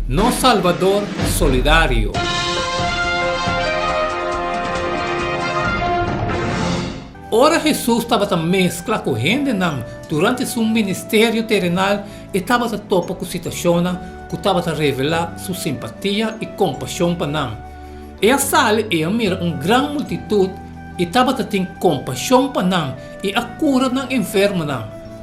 Nos Salbador Solidario. Ora Hesus tabata meskla ku hendenan durante su ministerio terenal, e tabata topa ku situashonnan ku tabata revelá su simpatia i kompashon pa nan. E a sali, i e a mira un gran multitut, i tabata tin kompashon pa nan, i a kura nan enfermonan.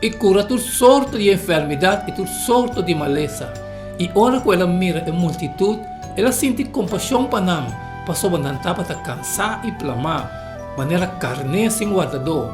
I kura tur sorto di enfermidat i tur sorto di malesa. I ora ku el a mira e multitut, el a sinti kompashon pa nan, pasobra nan tabata kansá i plamá, manera karné sin wardadó.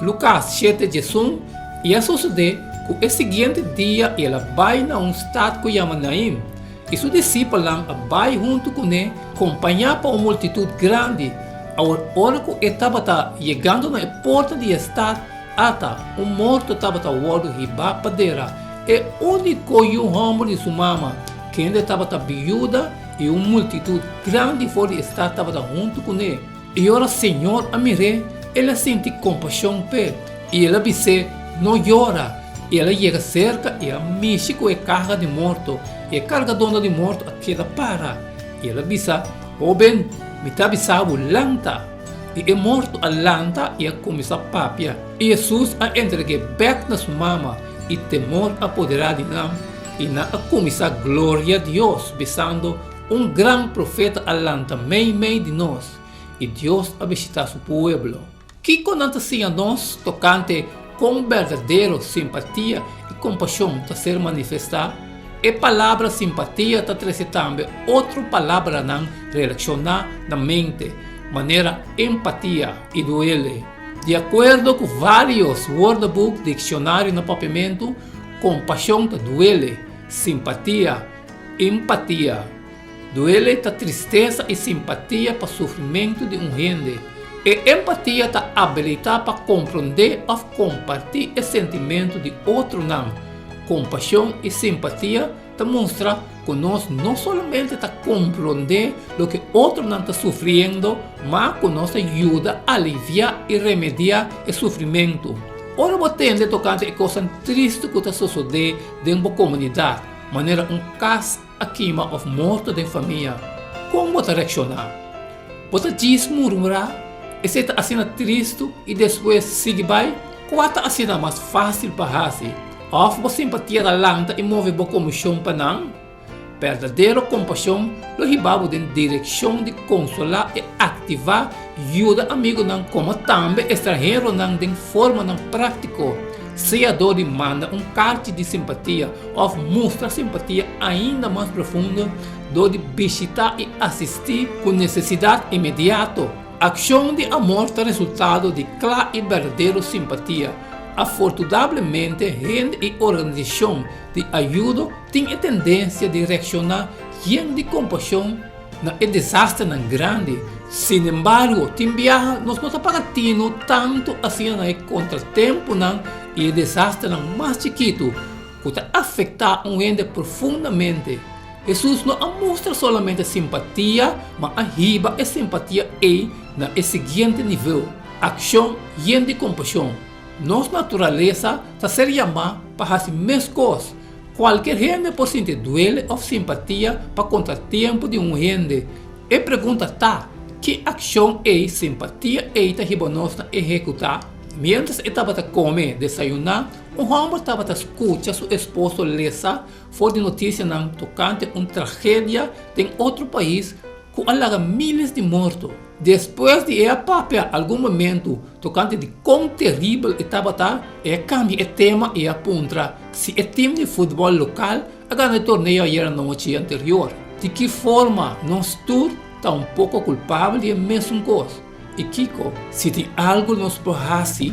Lukas shete djesun, I a sosodé ku e siguiente dia i el a bai na un stat ku yama Nain, i su disipelnan a bai huntu kuné, kompañá pa un multitut grandi. Awor, ora ku e tabata yegando na e porta di e stat, Ata un morto tabata wòrdu hibá pa dera e úniko yu hòmber di su mama, kende tabata biuda, i un multitut grandi for di e stat tabata huntu kuné. I ora señor a mir'é, el a sinti kompashon p'e, i el a bis'é, No yora! I el a yega serka, i a mishi ku e karga di morto, i e kargadónan di morto a keda para. I el a bisa, Hóben, mi ta bisa bo, lanta! I e morto a lanta i a kuminsá papia. I Hesus a entreg'é bèk na su mama, i temor a poderá di nan, i nan a kuminsá gloriá Dios, bisando, Un gran profeta a lanta mei mei di nos, i Dios a bishitá su pueblo. Kiko nan ta siña nos tokante Kon berdadero simpatia i kompashon ta ser manifestá? E palabra simpatia ta trese tambe otro palabranan relashon'á na mente, manera empatia i duele. Di akuerdo ku vários Woordeboek Dikshonari na Papiamentu, kompashon ta duele, simpatia, empatia. Duele ta tristesa i simpatia pa sufrimentu di un hende. E empatia ta abilitá pa komprondé òf kompartí e sentimentu di otronan. Kompashon i simpatia ta mustra ku nos no solamente ta komprondé loke otronan ta sufriendo, ma ku nos ta yuda aliviá i remediá e sufrimentu. Ora bo tende tokante e kosnan tristi ku ta sosodé den bo komunidat, manera un kas, a kima òf morto den famia, kon bo ta reakshoná? Bo ta djis murmurá, Esei ta asina tristu i despues sigui bai? Kua ta asina mas fásil pa hasi? Òf bo simpatia ta lanta i move bo komoshon pa nan? Berdadero kompashon lo hibá bo den direkshon di konsolá i aktivá yuda amigunan komo tambe estranheronan den formanan práktiko. Seador di manda un karchi di simpatia òf mustra simpatia ainda mas profundo dor di bishitá i asistí ku nesesidat inmediato. Akshon di amor ta resultado di kla i berdadero simpatia. Afortudablemente hende i organisashon di ayudo tin e tendensia di reakshoná yen di kompashon Na e desasternan grandi, sin embargo, tin biaha nos no ta para tino tantu asina na e kontratempunan i e desasternan mas chikitu ku ta afektá un hende profundamente. Hesus no a mustra solamente simpatia, ma a hiba e simpatia ei na e siguiente nivel, akshon yen di kompashon. Nos naturalesa ta ser yamá pa hasi meskos. Kualker hende por sinti duele òf simpatia pa konta tempu di un hende. E pregunta ta, Ki akshon ei simpatia ei ta hiba nos na ehekutá? Miéntras e tabata kome desayuná, un hòmber tabata skucha su esposo lesa for di notisianan tokante un tragedia den otro pais, ku a laga míles di morto, despues di e a papia algun momentu tokante di kon teribel e tabata, e a kambia e tema i e a puntra si e tim di futbòl lokal a gana e torneo ayer anochi anterior. Di ki forma nos tur ta un poko kulpabel di e mesun kos, i kiko? Si tin algu nos por hasi.